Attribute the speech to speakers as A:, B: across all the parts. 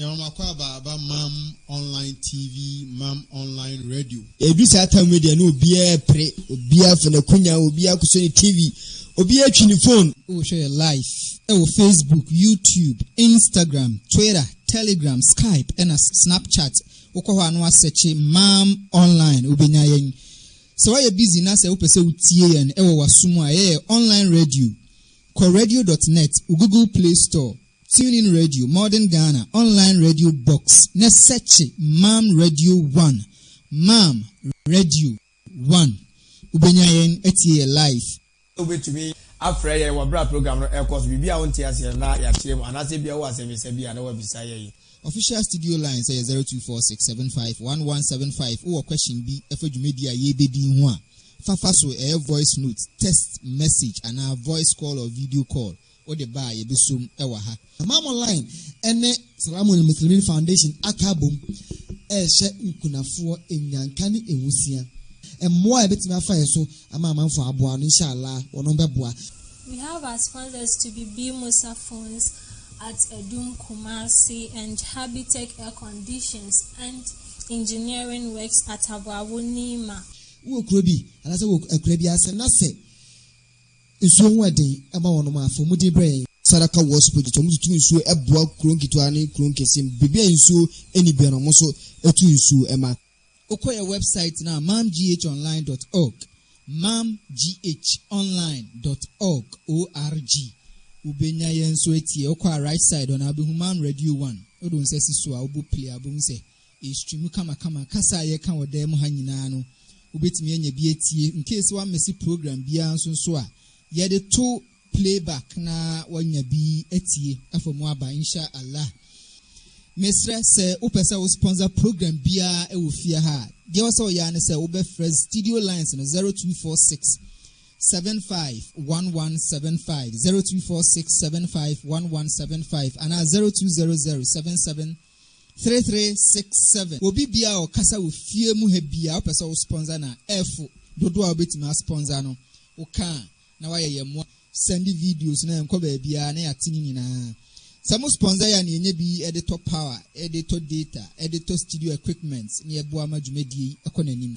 A: Nyawomakwaaba aba Mam online TV Mam online radio. Edu saa tam yi deɛ
B: na obiara repere, obiara afa n'akunya, obiara akɔsɔ ne TV, obiara atwi ne fon. Wohwɛ yɛ live
C: wɔ Facebook, YouTube, Instagram, Twitter, Telegram, Skype ɛna Snapchat. Wokɔ hɔ a na woasɛkye Mam online wobɛnya yɛn. Sɛ woayɛ busy na sɛ wopɛ sɛ wotie yɛn wɔ w'aso mu a, ɛyɛ yɛ online radio. Kɔ radio dot net wo Google Play Store TuneIn Radio, Modern Ghana, Online Radio Box, ne sɛkye Mam Radio One, Mam Radio One. Wobenya yɛn atie yɛ live. Wobɛtumi
B: afrɛ yɛn wɔ berɛ a program no rekɔ so. Biribi a wonte aseɛ no na yɛakyerɛ mu, anaasɛ ebia wowɔ asɛmmisa bi a na woabisa yɛn. Official studio
C: line sɛ yɛ 0246751175. Wowɔ question bi ɛfa dwumadi a yɛrebɛdi ho a, fa fa so. Ɛyɛ voice note, text message, anaa voice call or video call. wode ba a yɛbɛso mu wɔ ha. Imam Online
B: ne Salam Al Muslimin Foundation aka abom rehyɛ nkunafoɔ nnyanka ne nwusia. Mmoa a yɛbɛtumi afa yɛ so ama amanfoɔ aboa no inshallah wɔnom bɛboa. We have as
D: sponsors to be Bi Musa Phones at Adum Kumasi and Habitech Air Conditions and Engineering Works at Aboabo Nima. Wowɔ kuro bi
B: anaasɛ wowɔ akuraa bi ase na sɛ. Nsuo ho ɛden ɛma wɔnom a afei wɔmudi brɛ yɛn. Sadaka Works Project, wɔn tutu nsuo ɛboa kuro nketewa ne kuro nkɛseɛ mu, baabi a nsuo ɛnni biara no wɔn nso ɛtu nsuo ɛma. Wokɔ yɛn wɛbsaet
C: no a, mamghonline dɔt ɔg, mamghonline dɔt ɔg, ORG, wobɛnya yɛn nso atie. Wokɔ a right side hɔ no a wobɛhu Mam Radio One, wode wo nsa si so a wobɔ play a wobɛhu sɛ. Stream mu kamakama. Kasa a yɛka wɔ dan mu ha nyinaa no, wubetumi anya bi atie. In case woammese program biara nso nso a, yɛde to playback na woanya bi atie afa mu aba, Insha Allah. Mesrɛ sɛ wopɛ sɛ wo sponsor program biara wɔ fie ha a, deɛ ɛwɔ sɛ woyɛ ara ne sɛ wobɛfrɛ studio lines no 0246 751175, 0246 751175 anaa 0200 77 Three three six seven Obi biaa a ɔkasa wɔ fie mu ha biaa wopɛ sɛ wo sponsor no a ɛfo dodoɔ a wobɛtumi a sponsor no wo ka a na wayɛ yɛn moa sɛnde videos no a ɛnkɔ baabiaa na yɛate ne nyinaa sɛ mo sponsor yɛ a na yɛnya bi de tɔ power de tɔ data de tɔ studio equipments na yɛboa ma dwumadie yi kɔ nanim.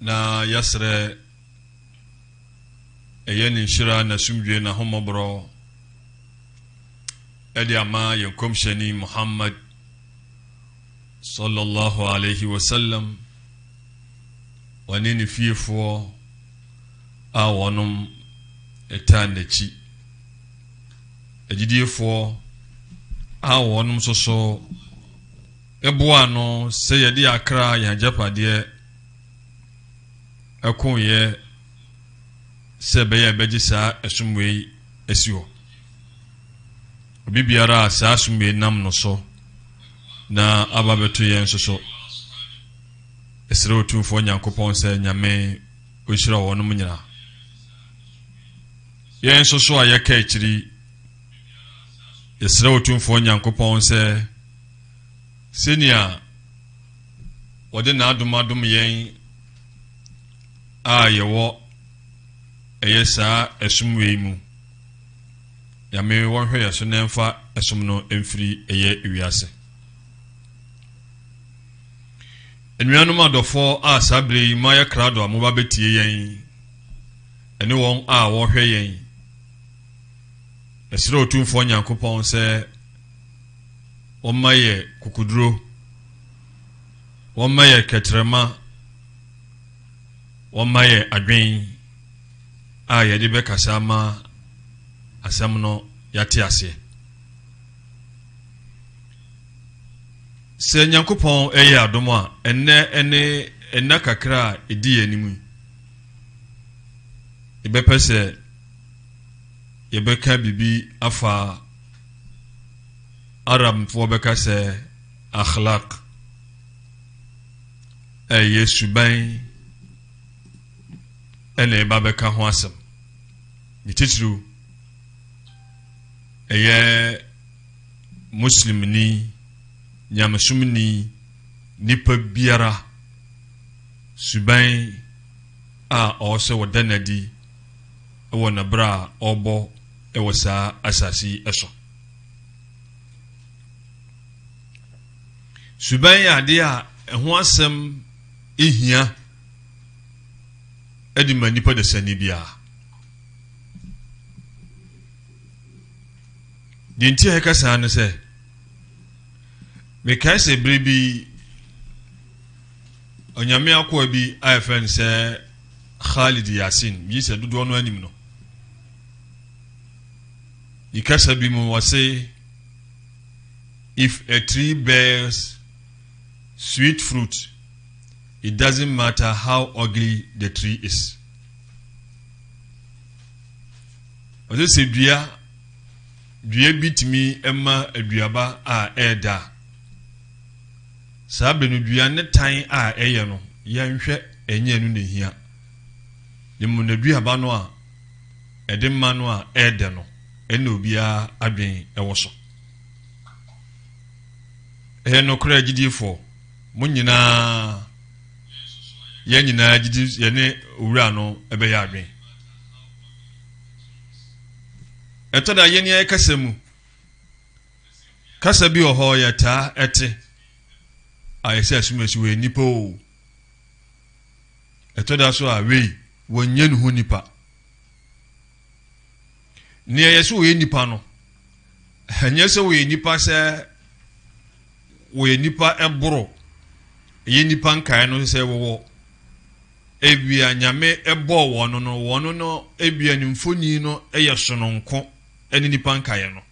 E: na yɛsrɛ ɛyɛ ne nhyira n'asomdwie n'ahommɔborɔ ɛde ama yɛn kɔmhyɛni muhammad sallallahu alaihi wasallam wɔne ne fiefoɔ a wɔnom ɛtaa n'akyi agyidiefoɔ a wɔnom soso Ɛboaa no sɛ yɛde yɛn akra a yɛn agyapadeɛ ɛkoeɛ sɛ ɛbɛyɛ a yɛbɛgye saa ɛsom wei asi hɔ. Obi biara a saa som wei nam no so na aba bɛto yɛn nso so. Ɛsrɛ Otumfoɔ Nyankopɔn sɛ Nyame ɔnhyira wɔnom nyinaa. Yɛn nso so a yɛka akyiri, yɛsrɛ Otumfoɔ Nyankopɔn sɛ sɛnea wɔde n'adom adom yɛn a yɛwɔ ɛyɛ saa ɛsom wei mu nyame wɔnhwɛ yɛ so na ɛmfa ɛsom no mfiri ɛyɛ wiase nnuanom adɔfoɔ a saa bere yi mayɛ krado a moba bɛtie yɛn ɛne wɔn a wɔhwɛ yɛn ɛserɛ otumfoɔ nyankopɔn sɛ wɔma yɛ kukuduro, wɔma yɛ kɛtrɛma, wɔma yɛ adwen a yɛde bɛkasa ama asɛm no yɛate aseɛ. Sɛ Nyankopɔn ɛyɛ adom a, ɛnnɛ ɛne ɛnna kakra a ɛdi yɛn anim yi, yɛbɛpɛ sɛ yɛbɛka biribi afa Arabfoɔ bɛka sɛ akhlaq ɛyɛ suban ɛna ɛba bɛka ho asɛm ne titiriw ɛyɛ muslimni nyamesomni nipa biara suban a ɔwɔ sɛ wɔda no adi wɔ n'abra a ɔrebɔ wɔ saa asase yi so. Suban yɛ adeɛ a ɛho asɛm hia de ma nipa dasani biara. Deɛ nti a ɛka saa no sɛ mekae sɛ bere bi onyame akoa bi a yɛfrɛ no sɛ Khalid Yasin, megye sɛ dodoɔ no anim no. Ne kasa bi mu wɔse if a tree bears sweet fruit it doesn't matter how ugly the tree is. Wɔse sɛ dua dua bi tumi ma aduaba a ɛɛda a Saa bere no dua ne tan a ɛyɛ no, yɛnhwɛ ɛnyɛ ɛno na ehia. Ne mmom na aduaba no a ɛde ma no a ɛyɛ dɛ no, ɛno na obiara adwene wɔ so. Ɛyɛ nokorɛ agyidifoɔ, mo nyinaa, yɛn nyinaa gyidi yɛne Owura no bɛyɛ adwene. Ɛtɔ da yɛn yɛn kasa mu. Kasa bi wɔ hɔ yɛtaa te a yɛ sɛ asumasi wɔ nnipa o. Ɛtɔ da so a wei wɔnyɛ ne ho nipa. Nea yɛ sɛ wɔyɛ nipa no, ɛnyɛ sɛ wɔyɛ nipa sɛ wɔyɛ nipa ɛboro ɛyɛ nipa nkae no sɛ wɔwɔ ebia nyame ɛbɔɔ wɔn no wɔn no ebia ne mfoni no ɛyɛ sononko ɛne nipa nkaeɛ no.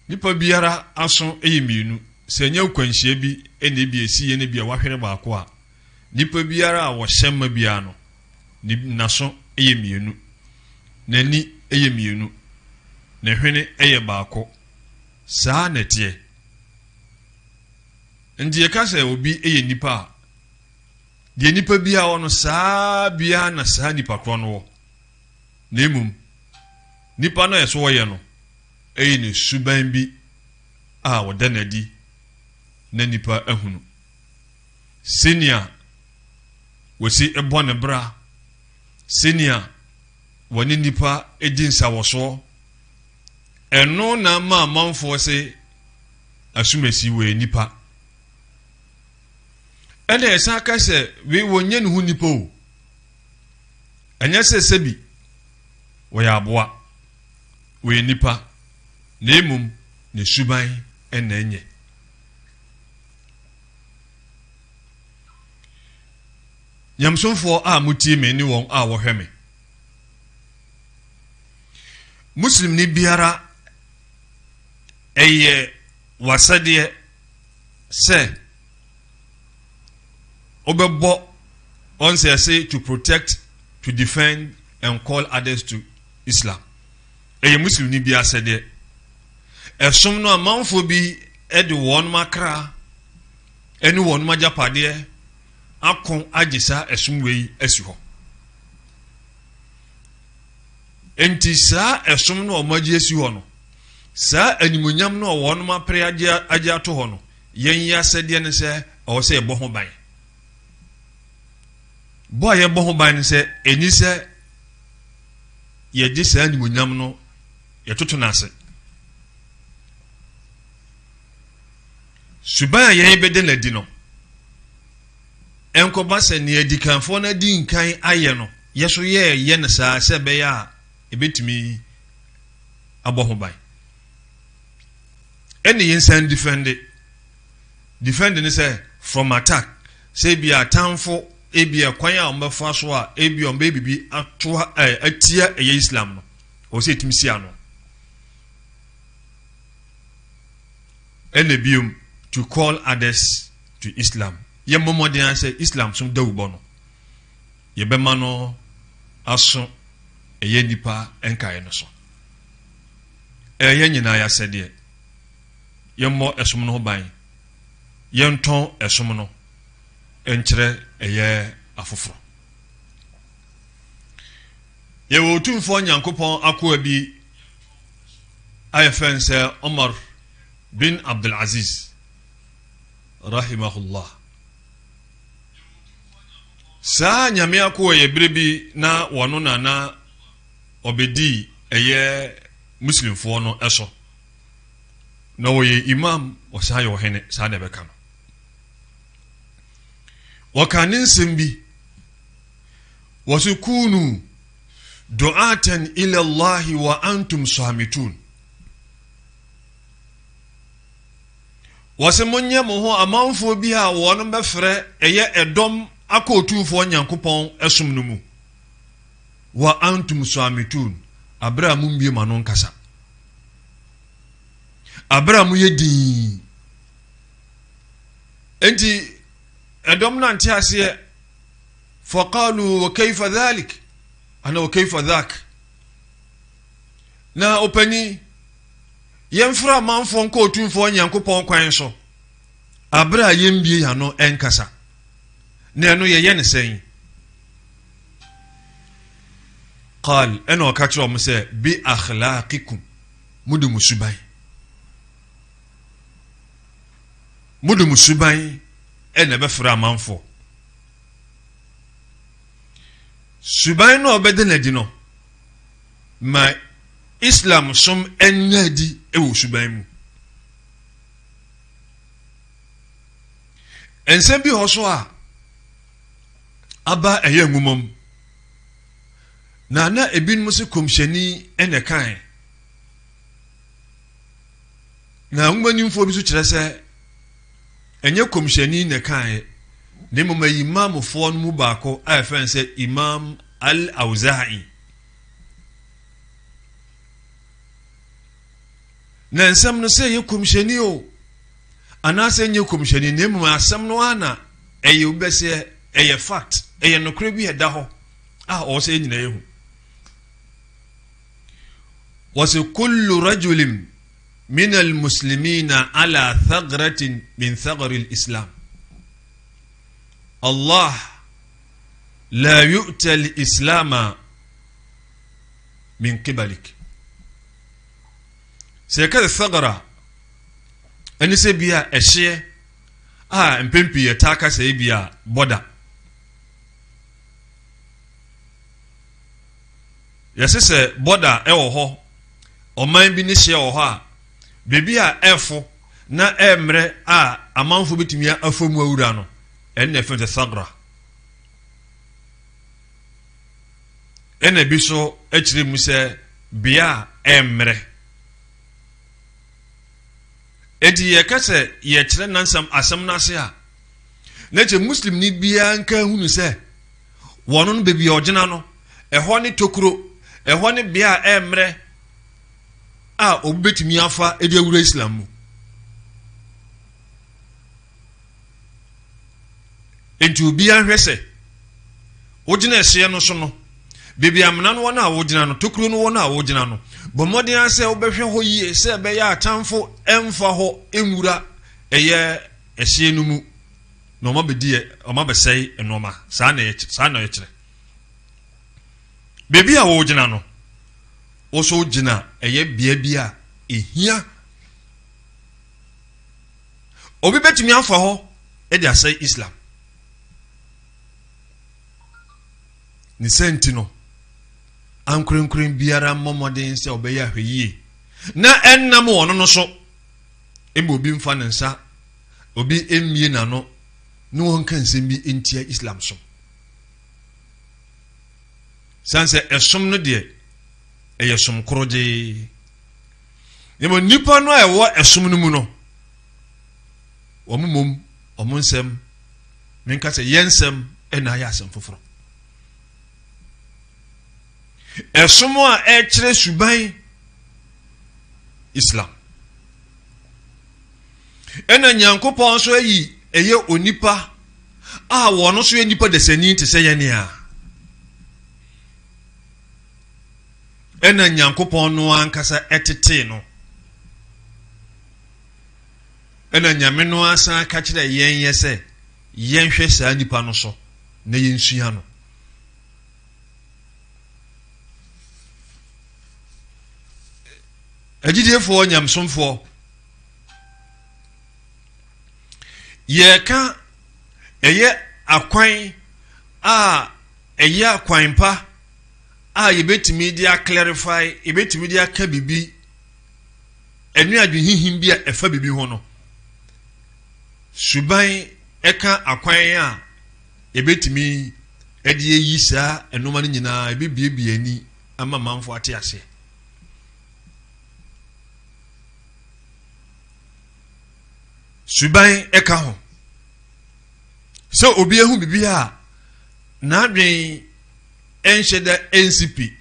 E: Nipa biara aso yɛ mmienu. Sɛ ɛnyɛ nkwanhyia bi na ebi esi yɛ no bi a wahwere baako a, nipa biara a wɔhyɛ mma biara no, ne n'aso yɛ mmienu, n'ani yɛ mmienu, ne hwene yɛ baako. Saa na ɛteɛ. Nti yɛka sɛ obi yɛ nipa a, deɛ nipa biara wɔ no saa biara na saa nipa korɔ no wɔ. na mmom nipa no a ɛsɛ ɔyɛ no yɛ no suban bi a ɔda no adi na nnipa ahunu. Sɛnea wɔsi bɔ ne bra, sɛnea wɔne nnipa di nsawɔsoɔ, ɛno na ma amanfoɔ se asumasi wɔ yɛ nipa. ɛna ɛsan ka sɛ wei wɔnyɛ ne ho nipa o Ɛnyɛ sɛ sɛbi wɔyɛ aboa, wɔyɛ nnipa, na mmom ne suban na ɛnyɛ. Nyamesomfoɔ a motie me ne wɔn a wɔhwɛ me. Muslimni biara ɛyɛ wasɛdeɛ sɛ wobɛbɔ wɔn sɛ ɛse to protect to defend and call others to islam ɛyɛ muslimni bi asɛdeɛ ɛsom no amanfoɔ bi de wɔn akra ɛne wɔn agyapadeɛ ako agye saa ɛsom wei asi hɔ nti saa ɛsom no a wɔn agye asi hɔ no saa animonyam no a wɔn apere agye ato hɔ no Yɛn yi asɛdeɛ ne sɛ ɛwɔ sɛ yɛbɔ ho ban. Bɔ a yɛbɔ ho ban ne sɛ ɛni sɛ yɛgye saa animonyam no yɛtoto no ase. Suban a yɛn bɛde no adi no, ɛnkɔba sɛ nea adikanfoɔ no adi nkan ayɛ no yɛ so yɛɛyɛ no saa sɛ ɛbɛyɛ a ɛbɛtumi abɔ ho ban Ɛna yɛn san defend defend ne sɛ from attack sɛ ebi atanfo ebi ɛkwan a wɔn bɛfa so a ebi wɔn bɛ bibi ato ɛ atia ɛyɛ Islam no wɔ sɛ etimi si ano ɛna biom to call others to Islam yɛ mmɔmɔden asɛ Islam som dawubɔ no yɛbɛma no aso ɛyɛ nipa nkaeɛ no so. Ɛyɛ yɛn nyinaa y'asɛdeɛ. Yɛmmɔ ɛsom no ho ban. Yɛntɔn ɛsom no nkyerɛ ɛyɛ afoforɔ. Yɛwɔ Otumfoɔ Nyankopɔn akoa bi a yɛfrɛ no sɛ Omar bin Abdul Aziz, rahimahullah. Saa Nyame akoa yɛ bere bi na wɔno na na ɔbɛdii ɛyɛ Muslimfoɔ no so, na ɔyɛ Imaam, ɔsan yɛ ɔhene, saa na ɛbɛka no. Wɔkaa ne nsɛm bi, wɔse kunu du'atan ila Allahi wa antum samitun. Wɔse monyɛ mo ho amanfoɔ bi a wɔn bɛfrɛ ɛyɛ ɛdɔm akɔ Otumfoɔ Nyankopɔn ɛsom no mu. wa antum swamitun, bere a mummue mo ano nkasa. Bere a moyɛ dinn. Enti, ɛdɔm no ante aseɛ. Fakalu wa kaifa dhalik ana wa kaifa dhak. Na ɔpanin, yɛmfra amanfoɔ nkɔ otumfoɔ Nyankopɔn kwan so. Abere a yɛmbue yɛn ano nkasa. Na ɛno yɛyɛ ne sɛn? Qaal, ɛna ɔka kyerɛ wɔn sɛ, Bi akhlaaqikum, mo de mo suban. Mo de mo suban ɛna ɛbɛfrɛ amanfoɔ. suban no a ɔbɛda no adi no ma islam som ɛnyɛ adi wɔ suban mu nsɛm bi hɔ so a aba a ɛyɛ nwuma mu, na na ebinom nso kɔmhyɛni na ɛkae. Na nwomanimfoɔ bi nso kyerɛ sɛ ɛnyɛ kɔmhyɛni na ɛkae, na mmom ɛyɛ imamfoɔ no mu baako a ɛfɛ no sɛ Imam al-Awza'i. Na nsɛm no sɛ ɛyɛ kɔmhyɛni o. Anaasɛ ɛnyɛ kɔmhyɛni na mmom asɛm no ara na ɛyɛ obi bɛsɛ ɛyɛ fact ɛyɛ nokorɛ bi a ɛda hɔ a ɔwɔ sɛ yɛn nyinaa yɛhu wɔsɛ kullu rajulim min almuslimina ala thagratin min thagari lislam allah la yu'ta lislama min qibalik Sɛ yɛka sɛ sagara a, ɛne sɛ bi a ɛhyeɛ a mpɛn pii yɛtaa ka sɛ bi a bɔda. Yɛse sɛ bɔda ɛwɔ hɔ, ɔman bi ne hyeɛ wɔ hɔ a, baabi a ɛfo na ɛmmerɛ a amanfo bɛtumi afa mu awura no, ɛne ɛfɛ sɛ sagara. Ɛna bi nso kyerɛ mu sɛ bea a ɛmmrɛ. Enti yɛka sɛ yɛkyerɛ nansam asɛm no ase a, na kyɛ Muslimni biara nka nhunu sɛ wɔn no baabi a ɔgyina no, ɛhɔ ne tokuro, ɛhɔ ne bea a ɛmmrɛ a obi bɛtumi afa de awura Islam mu. Enti obiara nhwɛ sɛ wogyina ɛhyeɛ no so no, baabi amena no wɔ no a wogyina no, tokuro no wɔ no a wogyina no, bɔ mmɔden ara sɛ wobɛhwɛ hɔ yie sɛ ɛbɛyɛ atamfo mfa hɔ nwura ɛyɛ ɛhyeɛ no mu na wɔn abɛdi wɔn abɛsɛe nneɛma saa na ɛkyerɛ saa na ɛkyerɛ baabi a wogyina no wɔso gyina ɛyɛ bea bi a ehia. Obi bɛtumi afa hɔ de asɛe Islam. Ne sɛ nti no, ankorankoran biara mmɔ mmɔden sɛ ɔbɛyɛ ahwɛyie na ɛnnam wɔn no so. Mma obi mfa ne nsa, obi mmie n'ano ne wɔn nka nsɛm bi ntia Islam som. San sɛ ɛsom no deɛ ɛyɛ som koro gyee. Na mmom nnipa no a ɛwɔ ɛsom no mu no, wɔn mmom wɔn nsɛm menka sɛ yɛn nsɛm na ayɛ asɛm foforɔ. Ɛsom a ɛkyerɛ suban Islam. Ɛna Nyankopɔn nso ayi ɛyɛ onipa a wɔn nso yɛ nipa dasani te sɛ yɛn nea. Ɛna Nyankopɔn no ankasa tetee no. Ɛna Nyame no ara san ka kyerɛɛ yɛn yɛ sɛ yɛnhwɛ saa nipa no so na yɛnsua no. Agyidiefoɔ nyamsomfoɔ, yɛreka ɛyɛ akwan a ɛyɛ akwan pa, a yɛbɛtumi de a clarify, yɛbɛtumi de aka biribi, ɛne adwenhihim bi a ɛfa biribi ho no, suban ɛka akwan a yɛbɛtumi de ayi saa nnoɔma no nyinaa, ɛbɛbiebie ani ama manfo ate aseɛ. suban ɛka ho sɛ obi ehu biribi a n'adwen Ɛnhyɛ da nsi pi.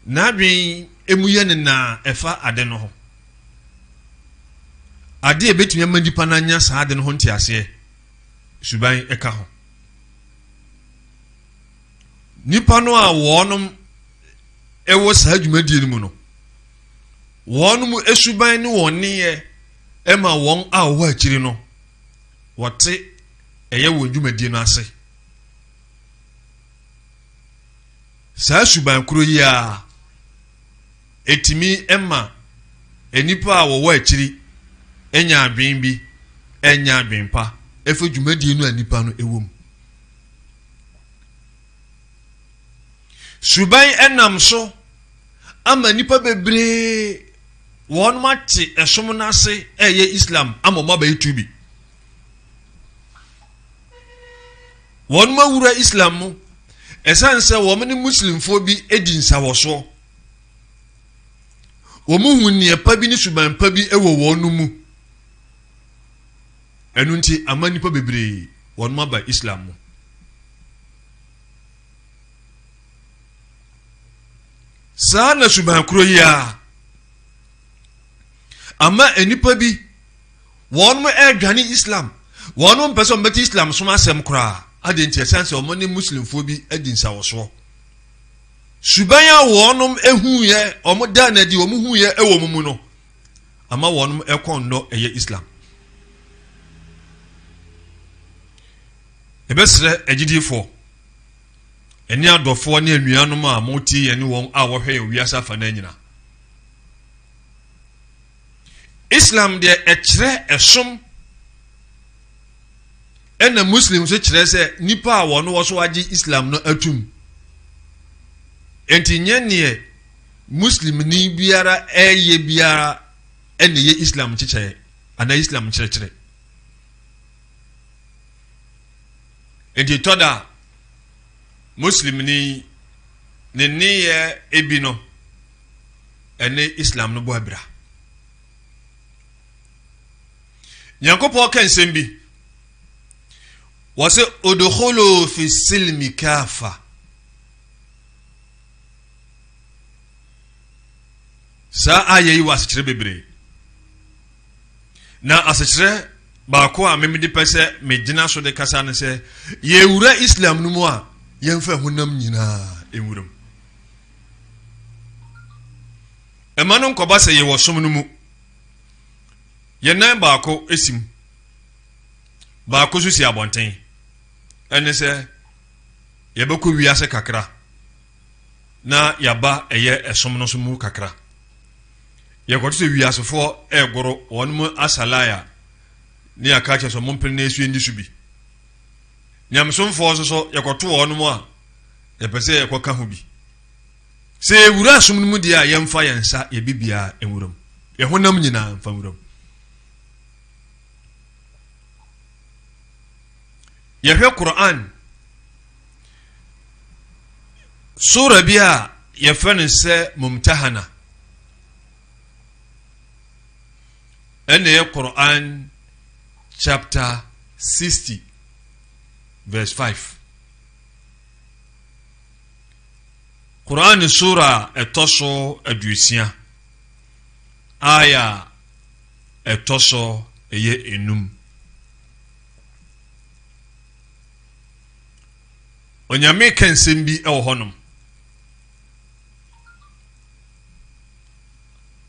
E: N'adwene mu yɛ no nãã ɛfa ade no ho. Ade a ɛbɛtumi ama nipa no anya saa ade no ho nteaseɛ, suban ka ho. Nipa no a wɔnom ɛwɔ saa dwumadie no mu no, wɔnom suban ne wɔn nneyɛ ɛma wɔn a wɔwɔ akyiri no wɔte ɛyɛ wɔn dwumadie no ase. saa suban koro yi ara ɛtumi ma nnipa a wɔwɔ akyiri anya adwene bi anya adwene pa ɛfɛ dwumadie no a nnipa no ɛwɔ mu suban ɛnam so ama nnipa bebree wɔn ate ɛsom no ase ɛyɛ islam ama wɔn abɛyɛ tubi wɔnom awura Islam mu ɛsiane sɛ wɔn ne Muslimfoɔ bi di nsawɔsoɔ. Wɔn hu nneɛ pa bi ne suban pa bi wɔ wɔn mu. Ɛno nti ama nnipa bebree wɔnom aba Islam mu. Saa na suban koro yi ara ama nnipa bi wɔn mo ɛredwane islam wɔn mo mpɛ sɛ wɔn bɛte islam som asɛm koraa adi nti ɛsan sɛ wɔn ne muslimfoɔ bi adi nsawɔsoɔ suban a wɔn ehuiɛ wɔn dan na di wɔn huiɛ ɛwɔ wɔn mu no ama wɔn ɛkɔn nnɔ ɛyɛ islam ɛbɛsrɛ agyidifoɔ ɛne adɔfoɔ ne anuanom a wɔte yɛne wɔn a wɔhwɛ yɛn wiase afa no nyinaa Islam deɛ ɛkyerɛ ɛsom ɛna Muslim nso kyerɛ sɛ nipa a wɔn wɔ so agye Islam no atum nti nyɛ neɛ Muslimni biara ɛyɛ biara ɛna ɛyɛ Islam kyekyɛɛ anaa Islam kyerɛkyerɛ nti tɔ da Muslimni ne nneyɛ ebi no. ɛne islam no bɔ abira nyankopɔn ka nsɛm bi wɔ sɛ odoholo fi silmi kafa saa ayɛ yi wɔ asekyerɛ bebree na asekyerɛ baako a memede pɛ sɛ megyina so de kasa no sɛ yɛwura islam no mu a yɛmfa honam nyinaa nwuram Ɛma no nkɔba sɛ yɛwɔ som no mu. Yɛn nan baako si mu, baako nso si abɔnten. Ɛne sɛ yɛbɛkɔ wiase kakra na yɛaba ɛyɛ ɛsom no so mu kakra. Yɛkɔto sɛ wiasefoɔ ɛregoro wɔn mu asalae a ne yɛaka kyerɛ sɛ mompene na ɛsu ɛndi so bi. Nyamesomfoɔ nso so yɛkɔto wɔn mu a Yɛpɛ sɛ yɛkɔ ka ho bi. Sɛ yɛwura asom no mu deɛ a, yɛmfa yɛn nsa yɛ bibiaa nwura mu. Yɛn honam nyinaa mfa nwura mu. Yɛhwɛ Quran sura bi a yɛfrɛ no sɛ Mumtahana. Ɛna yɛ Quran chapter 60 verse 5. Qur'an sura a ɛtɔ so aduosia aya a ɛtɔ so ɛyɛ enum onyame ka nsɛm bi wɔ hɔnom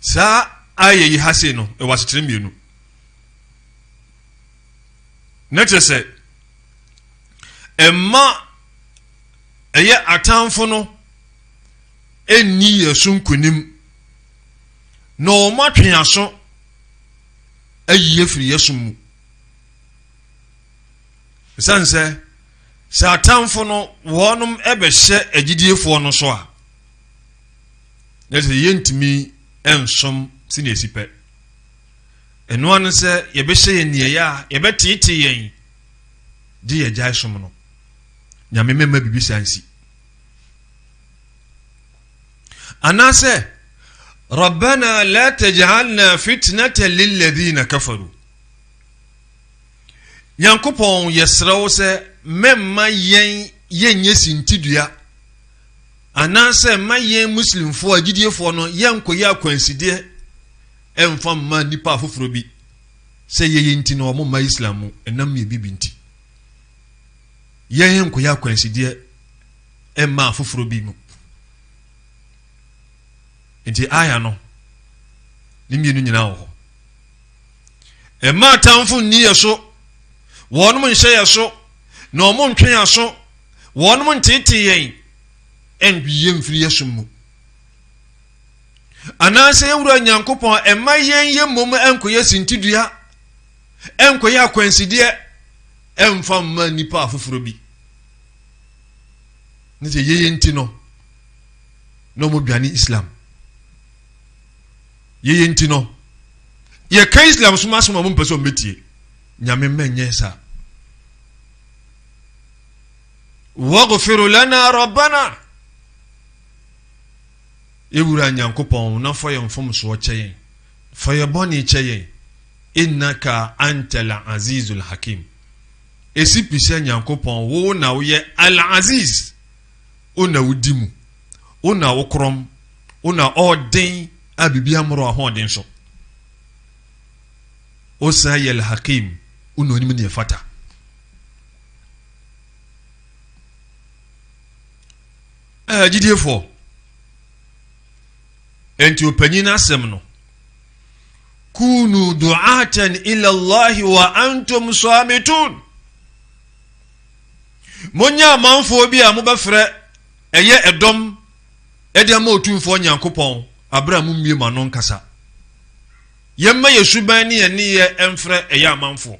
E: saa ayɛ yi ha sei no ɛwɔ asekyerɛ mmienu na kyerɛ sɛ ɛma ɛyɛ atamfo no ɛnni yɛ so nkonim na wɔn atwe aso ayi afiri yɛ so mu ɛsiane sɛ sɛ atamfo no wɔnom ɛbɛhyɛ agyidiefoɔ no so a na sɛ yɛntumi nsom sɛnea ɛsi pɛ ɛnoa no sɛ yɛbɛhyɛ yɛn nneɛyɛ a yɛbɛteetee yɛn gye yɛgyae som no nyame mɛma biribi saa nsi anaasɛ rabbana la tajalna fitnata lilladhina kafaru nyankopɔn yɛserɛ wo sɛ mɛmma yɛn yɛnyɛ sintidua Anaasɛ mma yɛn Muslimfoɔ agyidiefoɔ no yɛnnkɔyɛ akwansideɛ mmfa mma nnipa afoforɔ bi sɛ yei nti na wɔmma Islam mu ɛnam mmienu bi nti. Yɛn nkɔyɛ akwansideɛ mma afoforɔ bi mu. Nti aya no ne mmienu nyinaa wɔ hɔ. Mma atamfo nni yɛn so, wɔnom nhyɛ yɛn so, na wɔn ntwe yɛn aso, wɔnom nteetee yɛn, ɛntwe yɛn mfiri yɛn som mu. Anaasɛ yɛn wura Nyankopɔn ɛmma yɛn yɛ mmom ɛnkɔyɛ sintidua, ɛnkɔyɛ akwansideɛ, ɛmfa mma nnipa afoforɔ bi. Ne sɛ yɛyɛ nti no, na wɔn dwane Islam. Yɛyɛ nti no, yɛka Islam som asɛm a wɔmpɛ sɛ wɔbɛtie. Nyame mma nyɛ saa. Waghfir lana rabbana. Yɛwura Nyankopɔn na fa yɛn mfomsoɔ kyɛ yɛn. Fa yɛ bɔne kyɛ yɛn. Innaka antal azizul hakim. Ɛsi pi sɛ Nyankopɔn wo na woyɛ al-aziz. Wo na wodi mu. Wo na wokorɔn. Wo na ɔɔden a biribi ammoro ahoɔden so. Wosan yɛ Al-Hakim. Wo na onim nea ɛfata. Ɛɛ gyidiefoɔ. Enti ɔpanyin asɛm no kunu du'atan ila Allahi wa antum samitun. Monyɛ amanfoɔ bi a mobɛfrɛ ɛyɛ dɔm de ama Otumfoɔ Nyankopɔn berɛ a mommue mo ano nkasa. Yɛmma yɛn suban ne yɛn nneyɛɛ mfrɛ ɛyɛ amanfoɔ.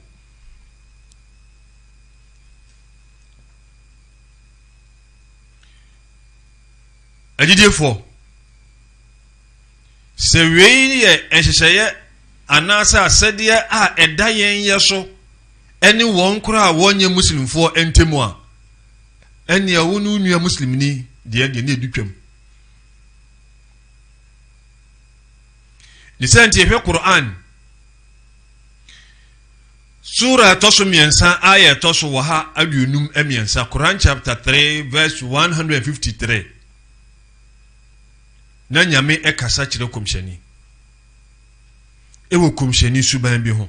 E: Agyidiefoɔ, sɛ wei yɛ nhyehyɛeɛ anaasɛ asɛdeɛ a ɛda yɛn yɛ so ɛne wɔn koraa a wɔnyɛ muslimfoɔ ntam a ɛneɛ wo ne wo nua muslimni deɛ deɛ ne ɛdu twam ne sɛ nti ɛhwɛ Qur'an sura ɛtɔ so mmiɛnsa ayɛ ɛtɔ so wɔ ha aduonum mmiɛnsa Quran chapter 3 verse 153 na nyame ɛkasa kyerɛ kɔmhyɛni ɛwɔ kɔmhyɛni suban bi ho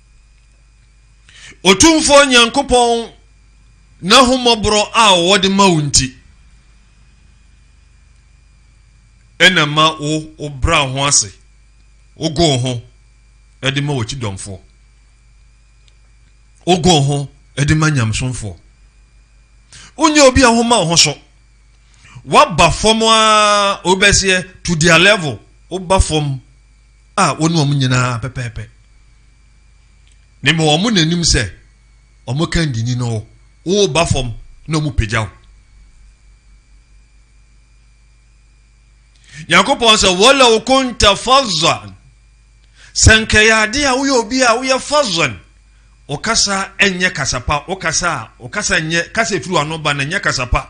E: Otumfoɔ Nyankopɔn n'ahummɔborɔ a wɔde ma wo nti, ɛna ma wo wobra ho ase, wogo ho de ma wɔkyi dɔmfoɔ, wogo ho de ma nyamsomfoɔ. Wonyɛ obi a woma wo ho so, woaba fam a wobɛseɛ to their level, woba fam a wo ne wɔn nyinaa pɛpɛɛpɛ na mmɔ wɔn n'anim sɛ wɔn ka ndini no woba fam na wɔn pagya wo nyankopɔn sɛ wɔlɛw konta fazan sɛ nkɛyɛ ade a woyɛ obi a woyɛ fazan wo kasa nyɛ kasapa wo kasa a wo kasa nyɛ kasa efiri w'ano ba na nyɛ kasapa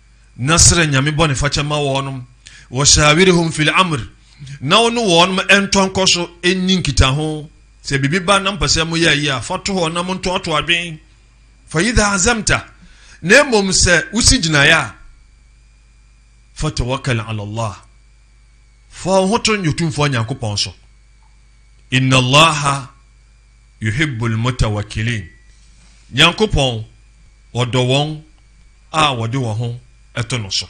E: na srɛ Nyame bɔnefakyɛ ma wɔnom, washawirhum fil amr, na wo ne wɔnom ntɔ nkɔso nni nkitaho, sɛ biribi ba na mpɛ sɛ moyɛ ayi a, fa to hɔ na montoato adwen, fa idha azamta, na mmom sɛ wosi gyinaeɛ a, fa tawakkal ala Allah, fa wo ho to Nyotumfoɔ Nyankopɔn so, inna Allaha yuhibbul mutawakilin, Nyankopɔn ɔdɔ wɔn a wɔde wɔn ho to no so.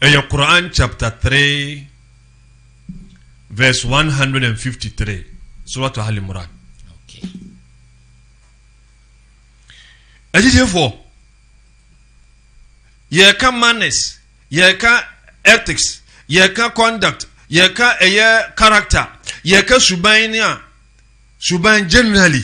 C: Ɛyɛ Quran chapter three verse one hundred and
E: fifty three Surah Al Imran. Agyidiefoɔ yɛka manners yɛka ethics yɛka conduct yɛka ɛyɛ character yɛka suban ne a suban generally.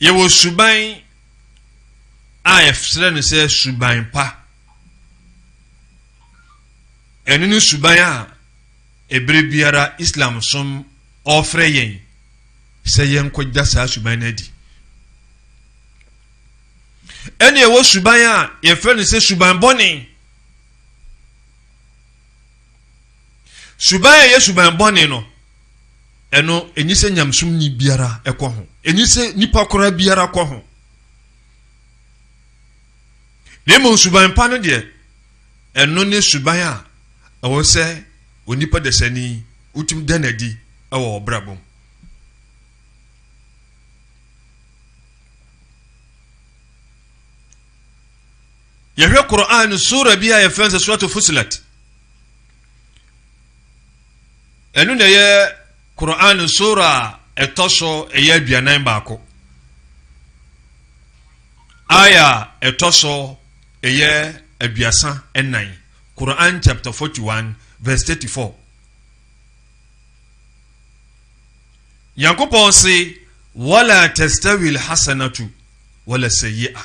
E: Yɛwɔ suban a yɛfrɛ no sɛ suban pa. Ɛno ne suban a ɛberɛ biara Islam som ɔrefrɛ yɛn sɛ yɛnkɔgya saa suban no adi. Ɛne ɛwɔ suban a yɛfrɛ no sɛ suban bɔne. Suban a ɛyɛ suban bɔne no, ɛno enye sɛ nyamesomni biara ɛkɔ ho, enye sɛ nipa koraa biara kɔ ho. Na mmom suban pa no deɛ, ɛno ne suban a ɛwɔ sɛ onipa dasani wotumi da no adi wɔ ɔbrabɔ mu. Yɛhwɛ Qur'aan Suura bi a yɛfrɛ no sɛ Suratu Fussilat. Ɛno na ɛyɛ Qur'aan Suura a ɛtɔ so ɛyɛ aduanan baako. Aya ɛtɔ so ɛyɛ aduasa ɛnan. Qur'aan chapter 41 verse 34. Nyankopɔn se, Wala tastawil hasanatu wala sayyi'a.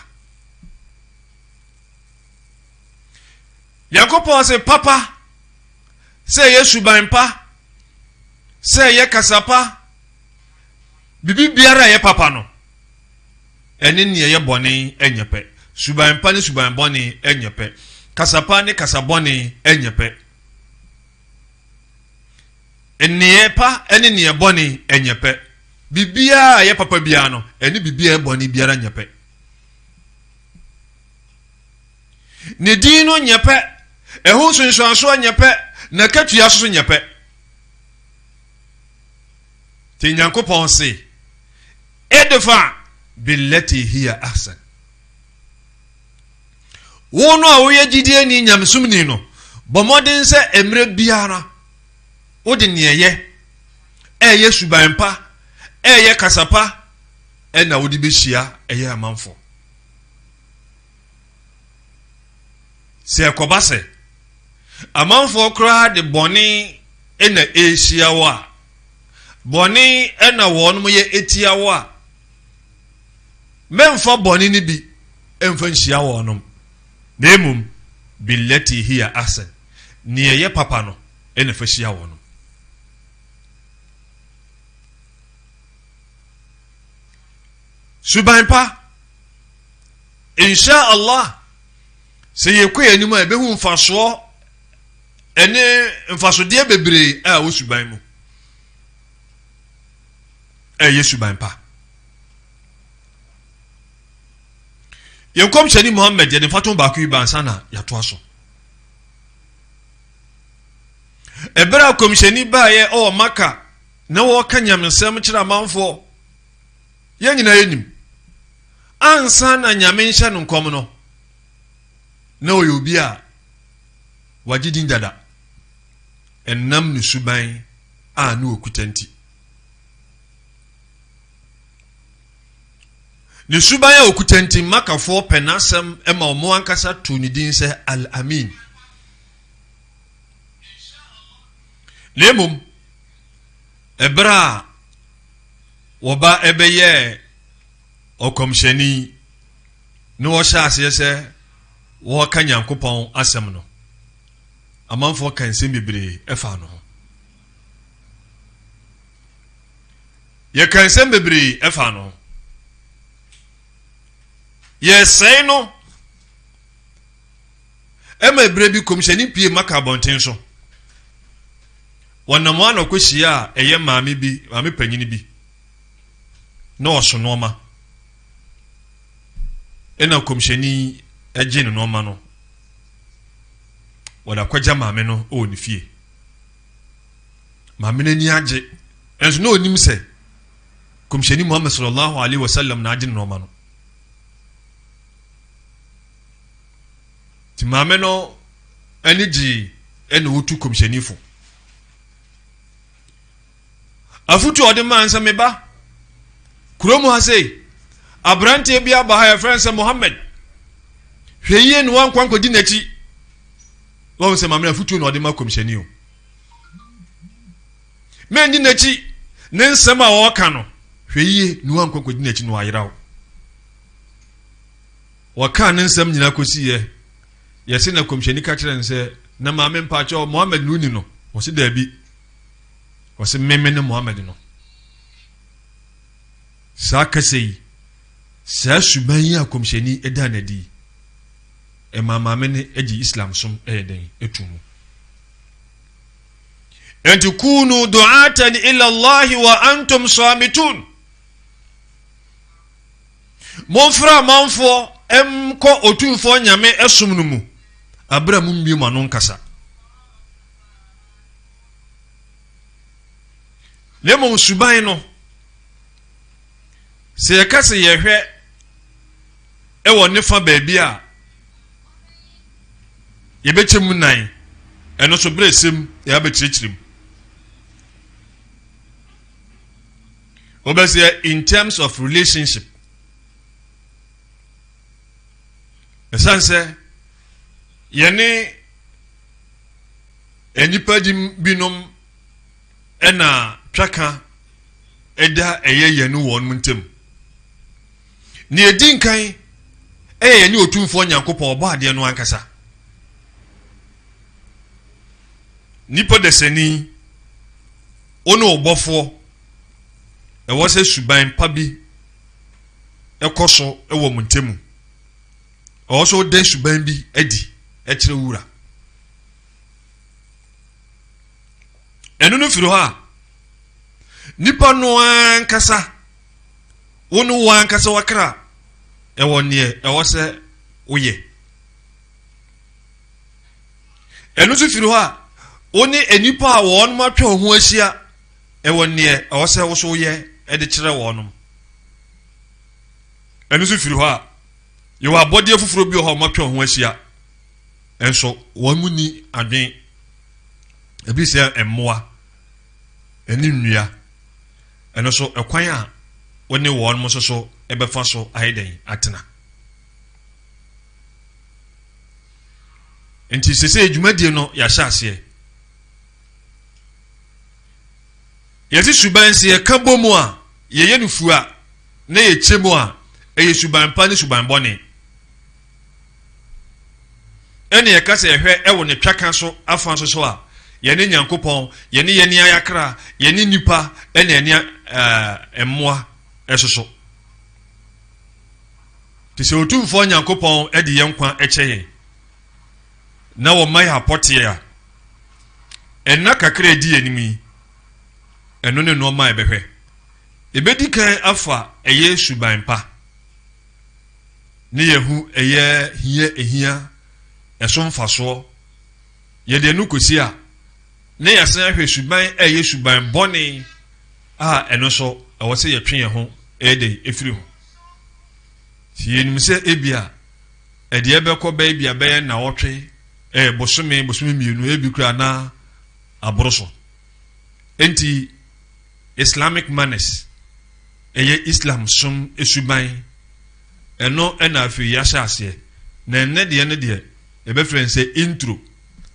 E: nyankopɔn se papa sɛ ɛyɛ suban pa sɛ ɛyɛ kasa pa biribi biara ɛyɛ papa no ɛne nea ɛyɛ bɔne ɛnyɛ pɛ suban pa ne suban bɔne ɛnyɛ pɛ kasa pa ne kasa bɔne ɛnyɛ pɛ nneɛ pa ɛne nneɛ bɔne ɛnyɛ pɛ biribiara ɛyɛ papa biara no ɛne biribiara ɛbɔne biara nyɛ pɛ Ne din no nyɛ pɛ, ɛho nsunsuansoɔ nyɛ pɛ, n'akatua nso so nyɛ pɛ. Nti Nyankopɔn se, Edfa billati hiya ahsan. Wo no a woyɛ gyidie ni nyamesum ni no, bɔ mmɔden sɛ mmerɛ biara wode neɛ yɛ, ɛyɛ suban pa, ɛyɛ kasa pa, ɛna wode bɛhyia ɛyɛ amanfoɔ sɛ ɛkɔba sɛ amanfoɔ koraa de bɔne ɛna ɛrehyia wo a bɔne ɛna wɔn mo yɛ ɛtia wo a mɛmfa bɔne no bi ɛmfa nhyia wɔn nom na mmom bilati hiya asɛn neɛ ɛyɛ papa no ɛna fa hyia wɔn nom suban pa insha allah sɛ yɛkɔ yɛn anim a yɛbɛhu mfasoɔ ɛne mfasodeɛ bebree a ɛwɔ suban mu ɛyɛ suban pa yɛn kɔmhyɛni muhammed yɛde mfato baako yi bansa na yɛatoa so ɛberɛ a kɔmhyɛni baeɛ ɔwɔ maka Na wɔka nyamesɛm kyerɛ amanfoɔ. Yɛn nyinaa yɛnim. Ansa na Nyame nhyɛ no nkɔm no, na ɔyɛ obi a wagye din dada. Ɛnam ne suban a ne ɔkuta nti. Ne suban a ɔkuta nti, Makafoɔ pɛ n'asɛm ma wɔn ankasa too ne din sɛ Al-Amin. Na mmom, Ɛberɛ a wɔba bɛyɛɛ ɔkɔmhyɛni ne wɔhyɛ aseɛ sɛ wɔreka Nyankopɔn asɛm no, amanfoɔ ka nsɛm bebree ɛfaa no ho. Yɛka nsɛm bebree ɛfaa no ho. Yɛsɛe no. Ɛma bere bi kɔmhyɛni pue ma ka abɔnten so. Wɔnam hɔ a na ɔkɔhyia a ɛyɛ maame bi, maame panyini bi. Na ɔso nnoɔma. Ɛna kɔmhyɛni gye ne nnoɔma no. Wɔde akɔgya maame no wɔ ne fie. Maame no ani agye. Ɛnso na ɔnim sɛ kɔmhyɛni Muhammad sallallahu alaihi wasallam na agye ne nnoɔma no. Nti maame no ani gyee ɛna otu kɔmhyɛni fo. Afutu a ɔde maa nsɛ me ba kurom ha sei aberanteɛ bi aba ha yɛfrɛ nsɛ Mohammed hwɛ yie ne wankwa nkɔdi n'akyi wɔn sɛ maame afutuo na ɔde ma kɔmhyɛni o mɛndi n'akyi ne nsɛm a ɔreka no hwɛ yie ne wankwa nkɔdi n'akyi na wayera o Wɔkaa ne nsɛm nyinaa kɔsiiɛ. Yɛse na Komhyɛni ka kyerɛɛ no sɛ, Na maame mpakyɛw, Muhammad ne woni no? Ɔse daabi. Ɔse me mene Muhammad no. Saa kasa yi, saa suban yi a Komhyɛni daa no adi yi, ɛmaa maame no gye Islam som ɛyɛ dɛn ɛtu mu. Enti kunu du'atan ila Allahi wa antum samitun. Momfra amanfoɔ nkɔ Otumfoɔ Nyame som no mu aberɛ a mommue moano nkasa, na mmom suban no, sɛ yɛka sɛ yɛhwɛ wɔ ne fa baabi a yɛbɛkyɛ mu nan, ɛno so berɛ sɛm yɛabɛkyerɛkyerɛ mu. wobɛsɛ in terms of relationship ɛsiane sɛ yɛne nnipa di binom ɛna twaka ɛda ɛyɛ yɛn ne wɔn ntam nea ɛdi nkan ɛyɛ yɛne otumfoɔ nyankopɔn ɔbɔ adeɛ no ankasa nipa dasani Wo ne wo Bɔfoɔ, ɛwɔ sɛ suban pa bi kɔ so wɔ mo ntamu. Ɛwɔ sɛ wode suban bi adi kyerɛ wura. Ɛno no firi hɔ a, nipa no ankasa, wo ne wo ankasa wakra ɛwɔ neɛ ɛwɔ sɛ woyɛ. Ɛno nso firi hɔ a wo ne nnipa a wɔn atwa wɔn ho ahyia ɛwɔ neɛ ɛwɔ sɛ wo so yɛ ɛde kyerɛ wɔn nom. Ɛno nso firi hɔ a yɛwɔ abɔdeɛ foforɔ bi wɔ hɔ a wɔn atwa wɔn ho ahyia nso wɔn mu ni adwen ebi sɛ mmoa ɛne nnua ɛno so ɛkwan a wo ne wɔn nso so ɛbɛfa so ayɛ dɛn atena. nti sese dwumadie no yɛahyɛ aseɛ yɛte suban sɛ yɛka bɔ mu a yɛyɛ no fua na yɛkyɛ mu a ɛyɛ suban pa ne suban bɔne ɛne yɛka sɛ ɛhwɛ ɛwɔ ne twaka so afa nso so a yɛne nyankopɔn yɛne yɛne ayakra yɛne nipa ɛne ɛne mmoa ɛsoso Te sɛ Otumfoɔ Nyankopɔn de yɛn nkwa kyɛ yɛn na wɔma yɛn apɔteɛ a, ɛnna kakra a ɛdi yɛn anim yi, ɛno ne nnoɔma a ɛbɛhwɛ. Ɛbɛdi kan afa ɛyɛ suban pa ne yɛhu ɛyɛ hia ɛhia ɛso mfasoɔ. Yɛde ɛno kɔsi a, na yɛasan ahwɛ suban a ɛyɛ suban bɔne. a ɛno nso ɛwɔ sɛ yɛtwe yɛn ho ɛyɛ dɛ efiri ho si yɛnim sɛ ebia ɛdeɛ bɛkɔ bɛyɛ bia bɛyɛ na ɔtwe ɛɛ eh, bosome bosome mmienu ebi kura na aboro so nti islamic manners ɛyɛ islam som esuban ɛno ɛna afei yɛahyɛ aseɛ na ɛnɛ deɛ no deɛ yɛbɛfrɛ no sɛ intro.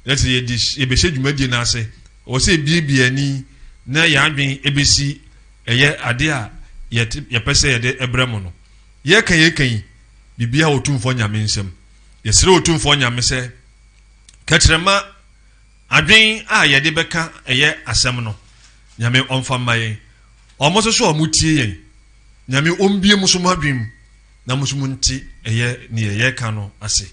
E: na sɛ yɛde yɛbɛhyɛ dwumadie no ase ɛwɔ sɛ ebiebie ani na yɛn adwene ebesi ɛyɛ ade a yɛte yɛpɛ sɛ yɛde ɛbrɛ mo no yɛka yɛka yi biribi a otumfoɔ nyame nsam yɛsrɛ otumfoɔ nyame sɛ kɛkyerɛma adwene a yɛde bɛka ɛyɛ asɛm no nyame ɔmfa mma yɛn wɔn nso so a wɔtie yɛn nyame ɔmbie mo so mo adwene mu na mo nso mo nte ɛyɛ ne yɛyɛ ka no ase.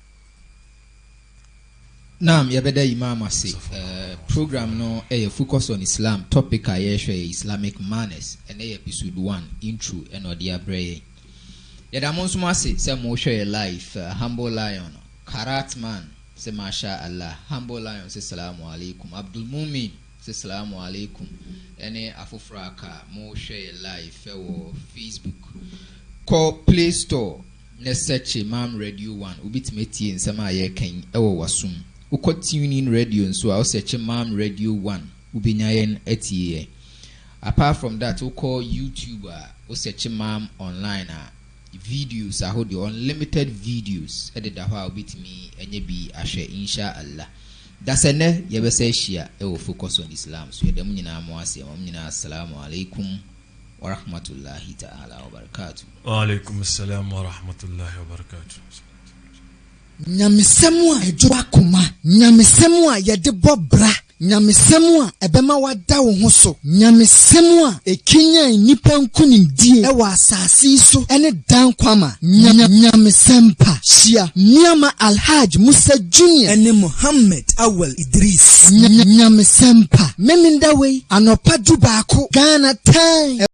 C: Naam yɛbɛda Imam ase. Uh, program no ɛyɛ eh, focus on Islam. Topic a yɛhwɛ yɛ Islamic manners. Ɛnɛ yɛ episode one intro ɛna ɔde abrɛ yɛn. Yɛda mo nso mo ase sɛ mo hwɛ yɛ live. Uh, humble lion, karat man sɛ masha Allah. Humble lion sɛ salamu alaikum. Abdul Mumin sɛ salamu alaikum. Ɛne afoforɔ aka mo hwɛ yɛ live ɛwɔ Facebook. Kɔ Play Store Nnɛ sɛkye mam radio one wobetumi atie nsɛm a yɛreka yi wɔ w'aso mu. Wokɔ TuneIn radio nso a wosɛkye mam radio one wobenya yɛn atie yɛ. Apart from that wokɔ YouTube a wosɛkye mam online a videos ahodoɔ, unlimited videos deda hɔ a wobetumi anya bi ahwɛ Insha Allah. Dasɛnnɛ yɛbɛsa ahyia wɔ Focus on Islam so. Yɛda mo nyinaa mo ase. Yɛma mo nyinaa As-salaamu alaikum. Warahmatullahi ta'ala wabarakatuh. Wa alaikum
E: salam warahmatullahi wabarakatuh. Nyamesɛm
B: a ɛdwo akoma, nyamesɛm a yɛde bɔ bra, nyamesɛm a ɛbɛma wada wo ho so, nyamesɛm a ɛkanyan nnipa nkonimdie wɔ asase yi so ne daa nkwa ma. Nyamesɛm pa. Hyia nneɛma Alhaj Musa Junior ne Mohammed
F: Awal Dris.
B: Nyamesɛmpa Memeneda wei
F: anɔpa
B: du baako Ghana time.